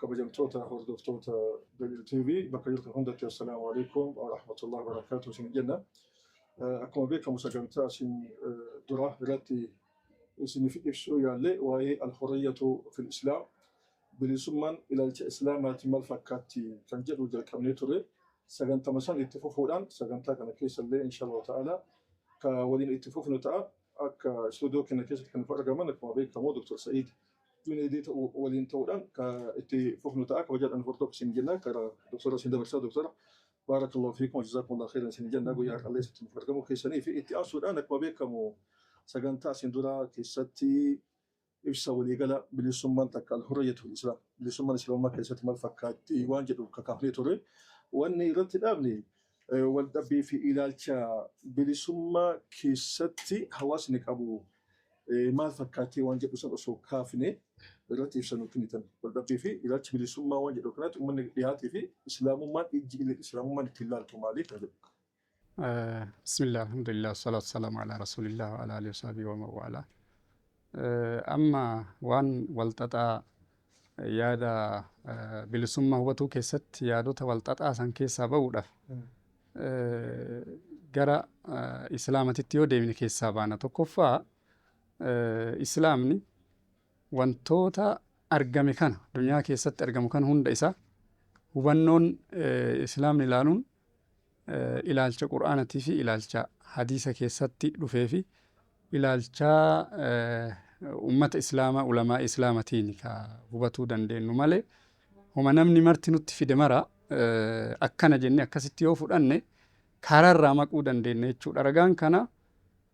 Kabajamtoota hordoftoota WTV bakka jirtan hundatti assalaamu alaikum wa rahmatullahi wa barakatuh isin jenna. Akkuma beekamu sagantaa isin duraa irratti isiniif ibsuu yaalle waa'ee al-hurriyyatu fil islaam bilisummaan ilaalcha islaamaati maal fakkaatti kan jedhu jalqabnee ture. Sagantama san itti fufuudhaan sagantaa kana keessa illee inshallah ta'ala ka waliin itti fufnu ta'a. Akka istuudiyoo keenya keessatti kan argaman akkuma beekamu Dr. Sa'iid Juneedii ta'u waliin ta'uudhaan ka itti fufnu ta'a kabajaadhaan hordoof isin jenna kara doktora isin dabarsaa doktora baarakallahu fiikum wajazaakumullahu khairan isin jenna guyyaa har'allee isin argamuu keessanii fi itti aansuudhaan akkuma beekamu sagantaa isin duraa keessatti ibsa waliigala bilisummaan takka alhurriyyatul islaam bilisummaan islaamummaa keessatti maal fakkaatti waan jedhu kakaafnee ture wanni irratti dhaabne Waldhabbii fi ilaalcha bilisummaa keessatti hawaasni qabu maal fakkaatee waan jedhu san osoo kaafne irratti ibsa nuu kennitan. Waldhabbii fi ilaalchi bilisummaa waan jedhu kanatti uummanni dhihaatii fi islaamummaan ijji illee islaamummaan ittiin laaltu maali kan jedhu. Bismillah, alhamdulillah, salaatu salaamu ala rasulillah wa ala alihi wa sahbihi wa mawala. Amma waan walxaxaa Yaada bilisummaa hubatuu keessatti yaadota walxaxaa san keessaa ba'uudhaaf gara islaamatitti yoo deemne keessaa baana. Tokkoffaa islaamni wantoota argame kana duniyaa keessatti argamu kana hunda isaa hubannoon islaamni ilaaluun ilaalcha Qur'aanatii fi ilaalcha hadiisa keessatti dhufee fi ilaalcha ummata islaamaa ulamaa islaamatiin ka hubatuu dandeennu malee homa namni marti nutti fide mara akkana jenne akkasitti yoo fudhanne karaarraa maquu dandeenya jechuudha. Ragaan kana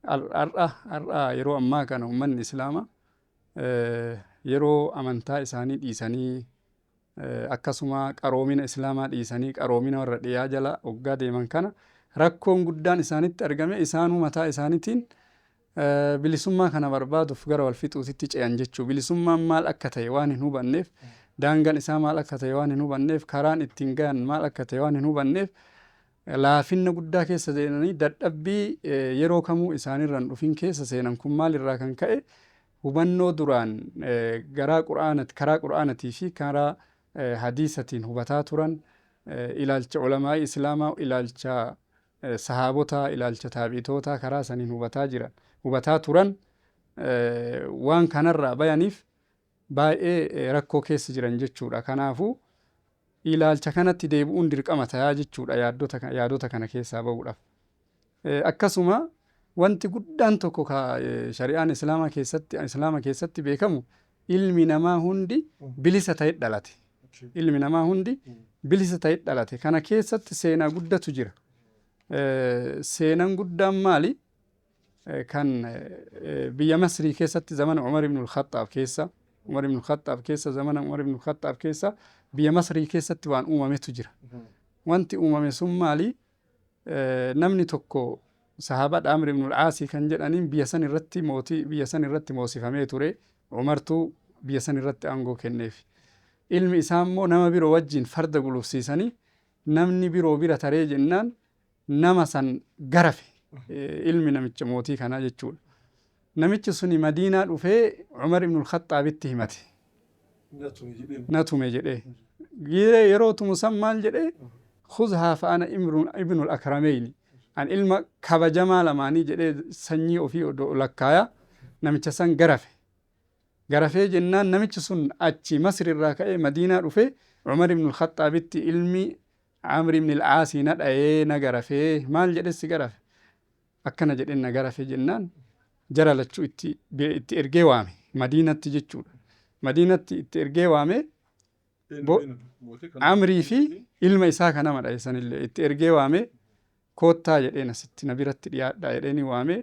har'a yeroo ammaa kana ummanni islaamaa yeroo amantaa isaanii dhiisanii akkasuma qaroomina Islaamaa dhiisanii qaroomina warra dhiyaa jala oggaa deeman kana rakkoon guddaan isaanitti argame isaanuu mataa isaanitiin bilisummaa kana barbaaduuf gara wal fixuutitti ce'an jechuu bilisummaan maal akka ta'e waan hin hubanneef daangaan isaa maal akka ta'e waan hin hubanneef karaan ittiin gahan maal akka ta'e waan hin hubanneef laafinna guddaa keessa seenanii dadhabbii yeroo kamuu isaanirraan dhufin keessa seenan kun maalirraa kan ka'e hubannoo duraan garaa qur'aanati karaa qur'aanatii fi karaa hadiisatiin hubataa turan ilaalcha ulamaa'ii islaamaa ilaalcha sahaabotaa ilaalcha taabi'itootaa karaa saniin hubataa jiran hubataa turan waan kanarraa bayaniif baay'ee rakkoo keessa jiran jechuudha kanaafuu ilaalcha kanatti deebi'uun dirqama tayaa jechuudha yaaddota ka- yaadota kana keessaa ba'uudhaaf Akkasuma wanti guddaan tokko ka shari'aan islaamaa keessatti islaama keessatti beekamu ilmi namaa hundi bilisa ta'e dhalate. Ilmi namaa hundi bilisa ta'e dhalate. Kana keessatti seenaa guddatu jira. Seenaan guddaan maali? Kan biyya Masrii keessatti zamana Umar ibn al-Khattaab keessa Umar ibn al-Khattaab keessa zamana Umar ibn al-Khattaab keessa biyya Masrii keessatti waan uumametu jira. Wanti uumame sun maali? Namni tokko Sahaabaadha Amr ibn al-Aasi kan jedhaniin biyya san irratti mootii biyya san irratti moosifamee ture. Umartu biyya san irratti aangoo kenneef. Ilmi isaa immoo nama biroo wajjin farda gulufsiisanii namni biroo bira taree jennaan nama san garafe ilmi namicha mootii kanaa jechuudha. Namichi suni Madiinaa dhufee Umar ibn al-Khaxxaabitti himate. Na tume jedhee. Giiree yeroo tumu san maal jedhee? Khuzhaa fa'ana ibn al-Akrameyni. An ilma kabajamaa lamaanii jedhee sanyii ofii odoo lakkaaya namicha san garafe. Garafee jennaan namichi sun achi Masri irraa ka'ee Madiinaa dhufee Umar ibn al-Khaxxaabitti ilmi Amr ibn al-Aasi na dhayee na garafee maal jedhee si garafe? akkana jedheen na garafee jennaan jara lachuu itti, be- itti ergee waame madiinatti jechuudha madiinatti itti ergee waame bo- amrii fi ilma isaa ka nama dhahe sanillee itti ergee waame koottaa jedheen asitti na biratti dhiyaadhaa jedheeni waame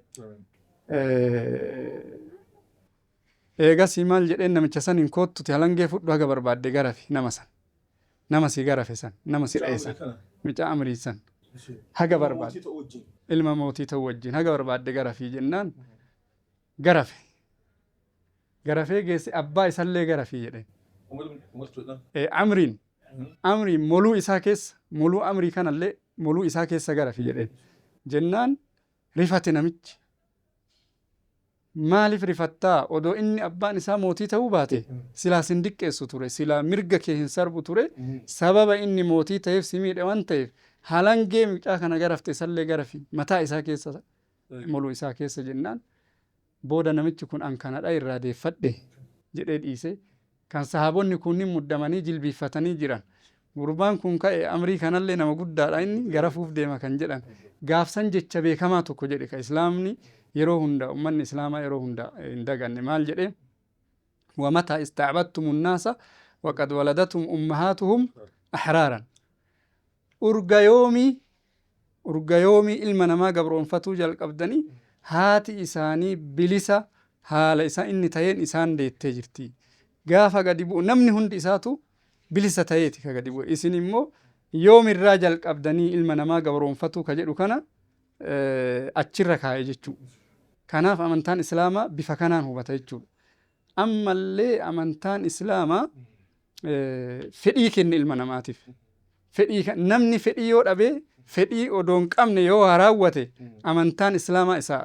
Eh, eegasii maal jedheen namicha saniin koottuti halangee fudhu haga barbaadde garafi nama san Nama si garafe san, nama si dhaye san, mucaa Amrii san haga barbaadde, ilma mootii ta'uu wajjiin haga barbaadde garafii jennaan garafe. Garafee geesse abbaa isallee garafii jedheen. Ee, Amriin, Amriin moluu isaa keessa, moluu Amrii kanallee moluu isaa keessa garafi jedheen. Jennaan rifate namichi. Maaliif rifatta? Odoo inni abbaan isaa mootii ta'uu baate, silaa sin diqqeessu ture, silaa mirga kee hin sarbu ture, sababa inni mootii ta'eef si miidhe waan ta'eef, halangee mucaa kana garafte isallee garafi, mataa isaa keessa, moluu isaa keessa jennaan, booda namichi kun an kanadha irraa deeffadhe jedhee dhiisee, kan sahaabonni kuunnin muddamanii jilbiiffatanii jiran gurbaan kun ka'e amrii kanallee nama guddaadha inni garafuuf deema kan jedhan gaafsan jecha beekamaa tokko jedhe ka islaamni yeroo hunda ummanni islaamaa yeroo hunda hin daganne maal jedhe wamataa istaabattumu naasa waqad waladatum ummahaatuhum ahraaran Urga yoomii? Urga yoomii ilma namaa gabroomfatuu jalqabdanii haati isaanii bilisa haala isa inni ta'een isaan deettee jirti. Gaafa gadi bu'u namni hundi isaatu bilisa ta'eeti ka gadi bu'e. Isin immoo yoomirraa jalqabdanii ilma namaa gabroomfatuu ka jedhu kana achirra kaa'e jechuudha. Kanaaf amantaan Islaamaa bifa kanaan hubata jechuudha. Ammallee amantaan Islaamaa fedhii kenna ilma namaatiif. Fedhii kan namni fedhii yoo dhabe fedhii odoo hin qabne yoo waa raawwate amantaan Islaamaa isa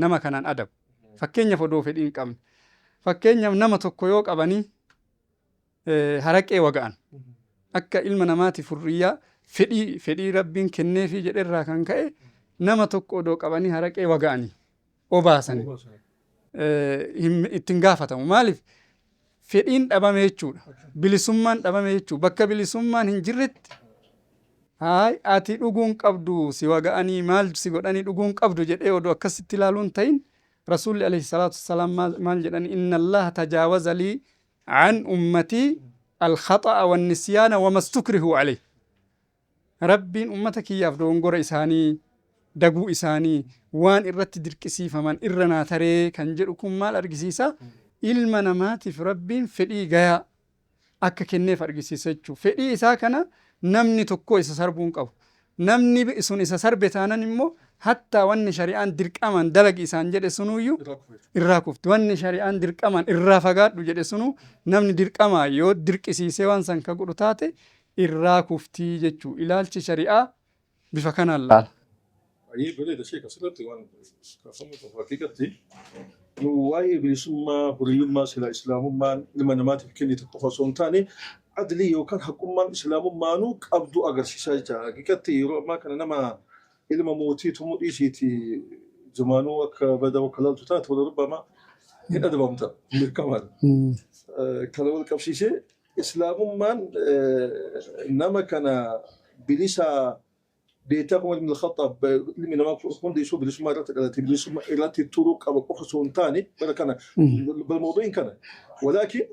nama kanaan adabu. Fakkeenyaaf odoo fedhii hin qabne. Fakkeenyaaf nama tokko yoo qabanii eh, haraqee waga'an akka ilma namaati furriyyaa fedhii fedhii rabbiin kenneefii jedherraa kan ka'e nama tokko odoo qabanii haraqee waga'anii obaasanii eh, hin- ittiin gaafatamu maaliif fedhiin dhabame jechuudha bilisummaan dhabame jechuudha bakka bilisummaan hin jirretti haay ati dhuguun qabdu si waga'anii maal si godhanii dhuguun qabdu jedhee odoo akkasitti ilaaluun ta'in rasuulli alayhi salaatu wassalaam maal- maal jedhani inna allaha tajaawaza lii An ummatii alkhaxa'a wannisyaana wamastukrihuu aleyh Rabbiin ummata kiyyaaf dogongora isaanii, daguu isaanii, waan irratti dirqisiifaman irra naa taree kan jedhu kun maal argisiisa? Ilma namaatiif Rabbiin fedhii gayaa akka kenneef argisiisa jechuudha. Fedhii isaa kana namni tokkoo isa sarbuu hin qabu. Namni sun isa sarbe taanan immoo hattaa wanni shari'aan dirqamaan dalagi isaan jedhe sunuuyyu irraa kufti. Wanni shari'aan dirqamaan irraa fagaadhu jedhe sunuu namni dirqamaa yoo dirqisiisee waan san ka godhu taate irraa kufti jechuu. Ilaalchi shari'aa bifa kanaan laala. Baay'ee bareeda sheek asirratti waan kaafamu qabu haqiiqatti waa'ee bilisummaa huriyummaa silaa islaamummaan ilma namaatiif kennite qofa osoo hin taane adlii yookaan haqummaan islaamummaanuu qabdu agarsiisa jecha haqiqatti yeroo ammaa kana nama ilma mootii tumu dhiisiiti zumaanuu akka bada bakka laaltu taate wala rubbamaa hin adabamta beekamaadha. Kana wal qabsiisee islaamummaan nama kana bilisaa Beektaa Umar ibn Khaxxaab ilmi namaa hundi isuu bilisummaa irratti dhalate bilisummaa irratti turuu qaba qofa osoo hin taane bara kana bara mawdu'iin kana walaakin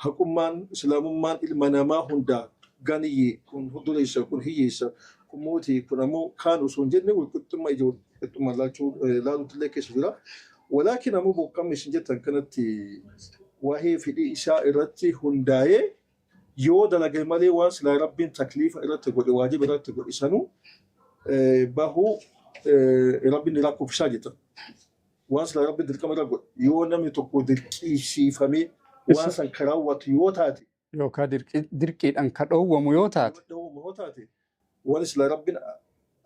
haqummaan islaamummaan ilma namaa hundaa ganiyyee kun dureessa kun hiyyeessa kun mootii kun ammoo kaan osoo hin jenne walqixxummaa ija walqixxummaa laachuu laaluutti illee keessa jira. Walaakin ammoo boqqamni isin jettan kanatti waa'ee fedhii isaa irratti hundaa'ee Yoo dalage malee waan silaa Rabbiin takliifa irratti godhe, waajiba irratti godhe sanuu bahu Rabbiin ni lakkofsisaa jetan. Waan silaa Rabbiin dirqama irra godhe yoo namni tokko dirqisiifamee waan Isa san ka raawwatu yoo taate, yookaa dirqi- dirqiidhaan ka dhoowwamu yoo taate, yoo dhowwamu yoo taate, Wani sila Rabbin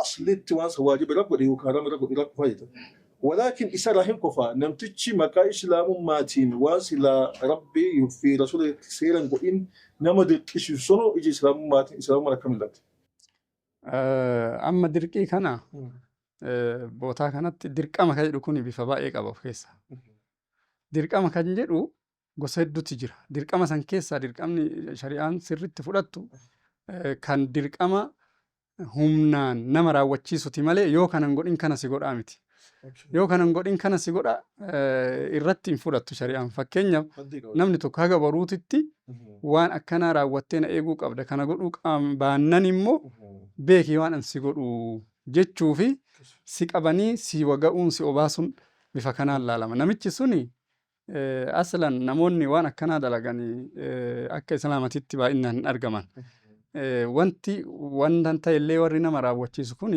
aslitti wan san wajiba ira godhe yookiin haram ira godhe ira kufa jeta. Walakin isa ira hin kufa namtichi maqaa islamummatin wan sila Rabbi fi rasula seera hin godhin nama dirqisisu sunu ija islamummatin islamumman akkam illatti. Amma dirqii kana bootaa kanatti dirqama ka jedhu kuni bifa baay'ee qaba of keessa. Dirqama kan jedhu gosa hedduutti jira. Dirqama san keessaa dirqamni shari'aan sirritti fudhattu kan dirqama humnaan nama raawwachiisuti malee yoo kanan godhin kana si godhaa miti. Yoo kanan godhin kana si godha irratti hin fudhattu shari'aan. Fakkeenyaaf namni tokko haga baruutitti waan akkanaa raawwattee na eeguu qabda kana godhuu baannan immoo beekii waan an si godhu jechuu fi si qabanii si waga'uun si obaasuun bifa kanaan laalama. Namichi suni Aslan namoonni waan akkanaa dalagan akka islaamatitti baay'inaan hin argaman. Wanti wanta ta'ellee warri nama raawwachiisu kun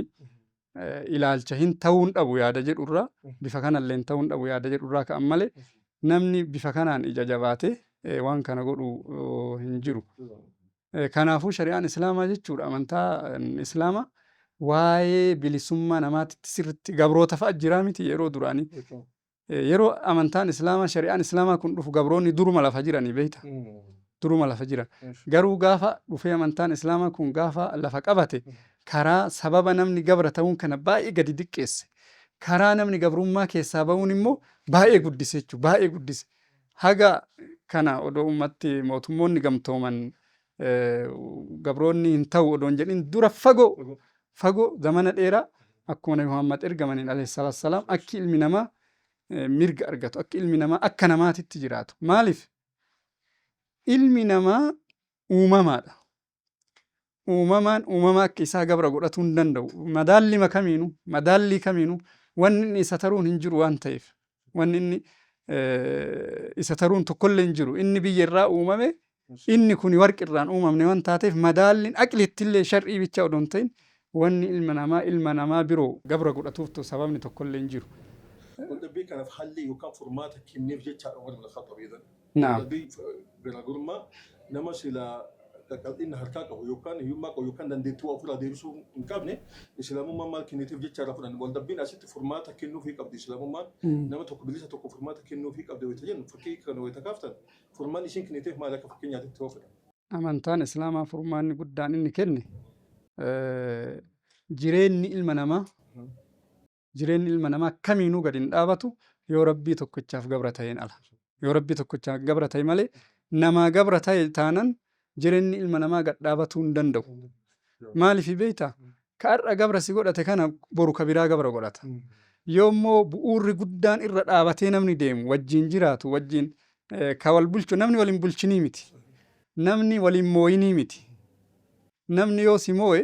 ilaalcha hin ta'uun dhabu yaada jedhurraa bifa kanallee hin ta'uun dhabu yaada jedhurraa ka'an malee namni bifa kanaan ija jabaatee waan kana godhu hin jiru. Kanaafuu shari'aan islaamaa jechuudha amantaa islaamaa waa'ee bilisummaa namaatitti sirritti gabroota fa'a jiraa miti yeroo duraanii. Yeroo amantaan Islaamaa, shari'aan Islaamaa kun dhufu gabroonni duruma lafa jiranii beekta. Duruma lafa jiran. Garuu gaafa dhufee amantaan Islaamaa kun gaafa lafa qabate karaa sababa namni gabra ta'uun kana baay'ee gadi diqqeesse. Karaa namni gabrummaa keessaa ba'uun immoo baay'ee guddise jechuudha. Baay'ee guddise. Haga kana odoo ummatti mootummoonni gamtooman eh, gabroonni hin ta'u odoon jedhin dura fagoo fagoo zamana dheeraa akkuma nabi Muhammad ergamaniin alayhi salaatu wassalaam akki ilmi namaa eh, mirga argatu akki ilmi namaa akka namaatitti jiraatu maaliif ilmi namaa uumamaadha uumamaan uumama akka isaa gabra godhatuu hin danda'u madaallima kamiinu madaallii kamiinu wanni inni isa taruun hin jiru waan ta'eef Wanni inni isa taruun tokkollee hin jiru. Inni biyya irraa uumame, inni kun warqi irraan uumamne waan taateef madaalliin aqlittillee shar'ii bicha odoo hin ta'in wanni ilma namaa ilma namaa biroo gabra godhatuuftu sababni tokkollee hin jiru. Waldhabbii kanaaf halli yookaan furmaata kenneef jechaadha Umar ibn Khaxxaab idan. Naam. Dadhabbii garaagarummaa nama sila qal'inna harkaa qabu yookaan hiyyummaa qabu yookaan dandeettii waa ofirraa deebisuu hin qabne islaamummaan maal kenniteef jecha irraa fudhanna. Waldhabbiin asitti furmaata kennuufii qabdi islaamummaan nama tokko bilisa tokko furmaata kennuufii qabdi wayita jennu fakkii kana wayita kaaftan furmaanni isiin kenniteef maal akka fakkeenyaatti itti hoofudha. Amantaan Islaamaa furmaanni guddaan inni kenne eh, jireenyi ilma namaa jireenyi ilma namaa kamiinuu gad hin dhaabatu yoo rabbii tokkichaaf gabra ta'een ala yoo rabbii tokkichaaf gabra ta'e malee namaa gabra ta'e taanan jireenyi ilma namaa gad dhaabatuu hin danda'u maaliif beekta ka har'a gabra si godhate kana boru ka biraa gabra godhata yoommoo bu'uurri guddaan irra dhaabatee namni deemu wajjin jiraatu wajjin eh, ka wal bulchu namni wal hin bulchinii miti namni wal hin mooyinii miti namni yoo si mooye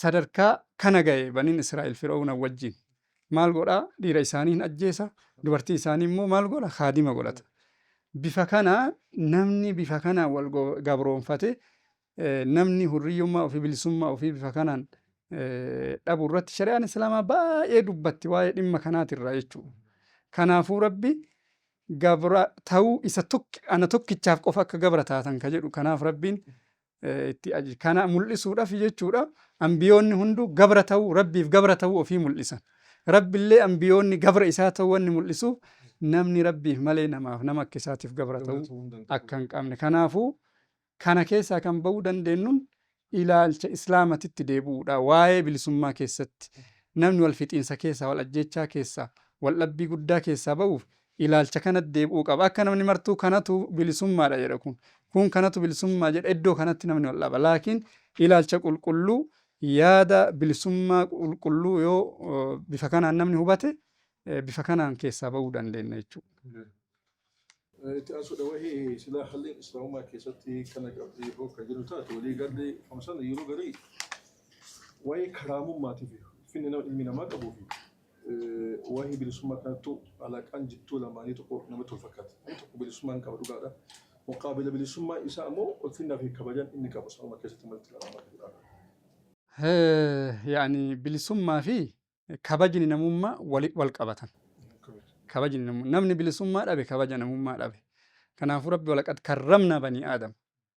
sadarkaa kana ga'e baniin Israa'el Fir'awna wajjin maal godha dhiira isaanii hin ajjeesa dubartii isaanii immoo maal godha kaadima godhata bifa kana namni bifa kana wal gabroonfate namni hurriyyummaa ofii bilisummaa ofii bifa kanaan dhabu irratti shari'aan islaamaa baay'ee dubbatti waa'ee dhimma kanaatirraa jechuudha. Kanaafuu rabbi gabra ta'uu isa tokki ana tokkichaaf qofa akka gabra taatan ka jedhu kanaaf rabbiin itti aji kana mul'isuudhaaf jechuudha ambiyoonni hunduu gabra ta'uu rabbiif gabra ta'uu ofii mul'isan rabbillee ambiyoonni gabra isaa ta'uu wanni mul'isuuf namni rabbiif malee namaaf nama akka isaatiif gabra ta'uu akka hin qabne kanaafuu kana keessaa kan ba'uu dandeenyuun ilaalcha islaamatitti deebi'uudha waa'ee bilisummaa keessatti namni wal fixiinsa keessaa wal ajjeechaa keessaa wal dhabbii guddaa keessaa ba'uuf ilaalcha kanatti deebi'uu qaba. Akka namni martuu kanatu bilisummaadha jedha kun, kuun kanatu bilisummaa jedha iddoo kanatti namni wal dhaba. Laakiin ilaalcha qulqulluu, yaada bilisummaa qulqulluu yoo bifa kanaan namni hubate bifa kanaan keessaa ba'uu dandeenna jechuudha. Itti aansuudha wahi silaa halli islaamummaa keessatti kana qabdi hoo kan jedhu taate walii galli hamsana yeroo garii waa'ee karaamummaatiif finni nama ilmi namaa qabuu fi Waa'ee bilisummaa kanattuu alaqaan jidduu lamaanii tokko namatti wal fakkaata. Inni tokko bilisummaa hin qaba dhugaadha. Muqaabila bilisummaa isaa ammoo ulfinnaa fi kabajan inni qabu sanuma keessatti malti kan hammatu dhugaadha. yaani bilisummaa fi kabajni namummaa wali wal qabatan. Kabajni namummaa namni bilisummaa dhabe kabaja namummaa dhabe. Kanaafuu rabbi walaqad karramna banii aadam.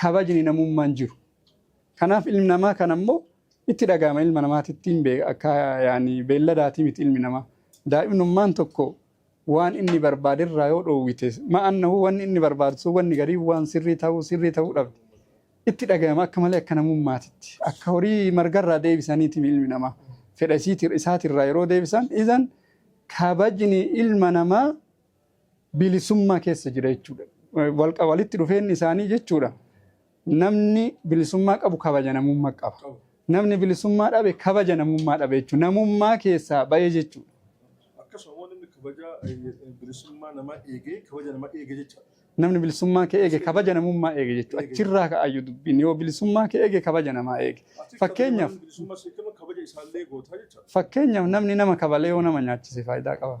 kabajni namummaan jiru. Kanaaf ilmi namaa kana immoo itti dhaga'ama ilma namaatittiin bee- akka yaani beelladaatii miti ilmi namaa. Daa'imnummaan tokko waan inni barbaade irraa yoo dhoowwite ma'annahu wanni inni barbaadu sun wanni garii waan sirrii ta'uu sirrii ta'uu dhabde. Itti dhaga'ama akka malee akka namummaatitti. Akka horii margarraa deebisaniiti ilmi namaa. Fedha isiiti- isaatirraa yeroo deebisan izan kabajni ilma namaa bilisummaa keessa jira jechuudha. Walitti dhufeenyi isaanii jechuudha namni bilisummaa qabu kabaja namummaa qaba. Namni bilisummaa dhabe kabaja namummaa dhabe jechuudha. Namummaa keessaa ba'ee jechuudha. Akkasuma namni kabaja bilisummaa namaa eegee kabaja namaa eege jecha. Namni bilisummaa kee eege kabaja namummaa eege jechuudha. Achirraa ka'ayyuu dubbiin yoo bilisummaa kee eege kabaja namaa eege. Fakkeenyaaf. Bilisummaa si kennu kabaja isaallee gootaa jecha. Fakkeenyaaf namni nama kabalee yoo nama nyaachise faayidaa qaba.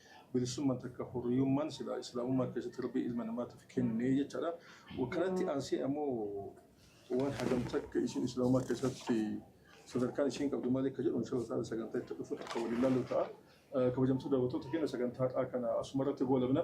Bilisummaan takka hurriyummaan silaa Islaamummaa keessatti Rabbiin ilma namaatiif kenne jechaadha. Kanatti aansee ammoo waan hagam takka isiin Islaamummaa keessatti sadarkaan isiin qabdu maali akka jedhu inshallah ta'ala sagantaa itti dhufutti akka waliin ilaallu ta'a. Kabajamtuu daawwattoota keenya sagantaa har'aa kana asuma irratti goolabna.